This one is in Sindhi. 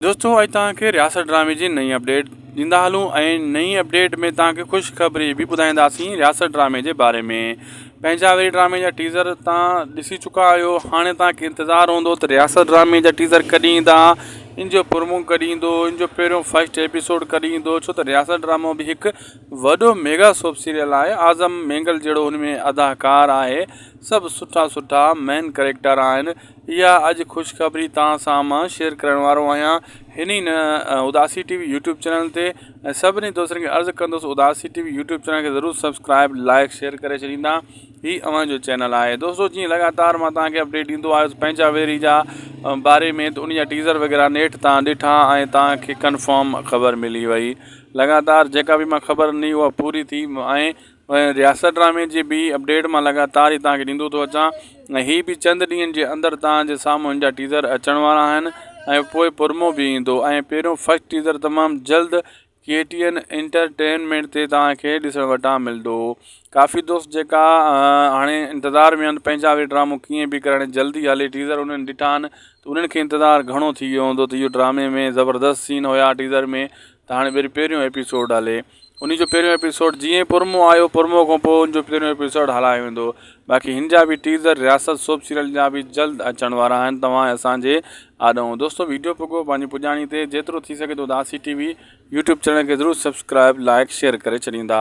دوستو اڄ توهان کي رياست ڊرامي جي نئين اپڊيٽ ڏيندا هلون ۽ نئين اپڊيٽ ۾ توهان کي خوشخبري به ٻڌائينداسين رياست ڊرامي جي باري ۾ پنهنجا وي ڊرامي جا ٽيزر توهان ڏسي چڪا آهيو هاڻي توهان کي انتظار هوندو ته رياست ڊرامي جا ٽيزر ڪڏهن ايندا ان جو پرومو ڪڏهن ايندو ان جو پهريون فسٽ ايپيسوڊ ڪڏهن ايندو ڇو ته رياست ڊرامو به هڪ وڏو ميگا سوپ سيريل آهي اعظم مينگل جهڙو هن ۾ اداڪار آهي سڀ سٺا سٺا مين ڪريڪٽر آهن اها اڄ خوشخبري توهان سان مان شيئر ڪرڻ وارو آهيان هن ئي نه Udasi T V YouTube channel تي ۽ سڀني دوستن کي عرض ڪندس Udasi T V YouTube channel کي ضرور سبسڪرائب لائق شيئر ڪري ڇڏيندا هي اوهان جو چينل آهي دوستو جيئن لڳاتار مان توهان کي اپڊيٽ ڏيندو آيس پنهنجا ويري جا باري ۾ ته ان جا ٽيزر وغيرا نيٺ توهان ڏٺا ۽ توهان کي ڪنفرم خبر ملي وئي لڳاتار جيڪا بي مان خبر ڏني اها پوري ٿي ۽ رياست ڊرامي جي ٻي اپڊيٽ مان لڳاتار ئي توهان کي ڏيندو ٿو اچان ۽ هي به چند ڏينهن جي اندر توهان جي سامهون هن جا ٽيزر اچڻ وارا آهن ۽ پوء پرمو به ايندو ۽ پهريون فرسٽ ٽيزر تمام جلد ڪي ٽي اين انٽرٽينمينٽ تي توهان کي ڏسڻ وٽان ملندو ڪافي دوست جيڪا هاڻي انتظار ۾ آهن پنهنجا به ڊرامو ڪيئن به ڪرڻ جلدي هلي ٽيزر انهن ڏٺا آهن ته انهن کي انتظار گهڻو ٿي ويو هوندو ته اهو ڊرامي ۾ زبردست سين هيا ٽيزر ۾ ته هاڻي وري پهريون ايپيسوڊ هلي انهي جو پهريون ايپيسوڊ جيئن پرمو آيو پرمو کان پوء ان جو پهريون ايپيسوڊ هلايو ويندو باقي هن جا به ٽيزر رياست سوپ سيريل جا به جلد اچڻ وارا آهن توهان ۽ اسان جي آڏو دوستو ويڊيو پڳو پنهنجي پڄاڻي تي جيترو ٿي سگهي ٿو Dasi T V YouTube channel کي ضرور سبسڪرائب لائڪ شيئر ڪري ڇڏيندا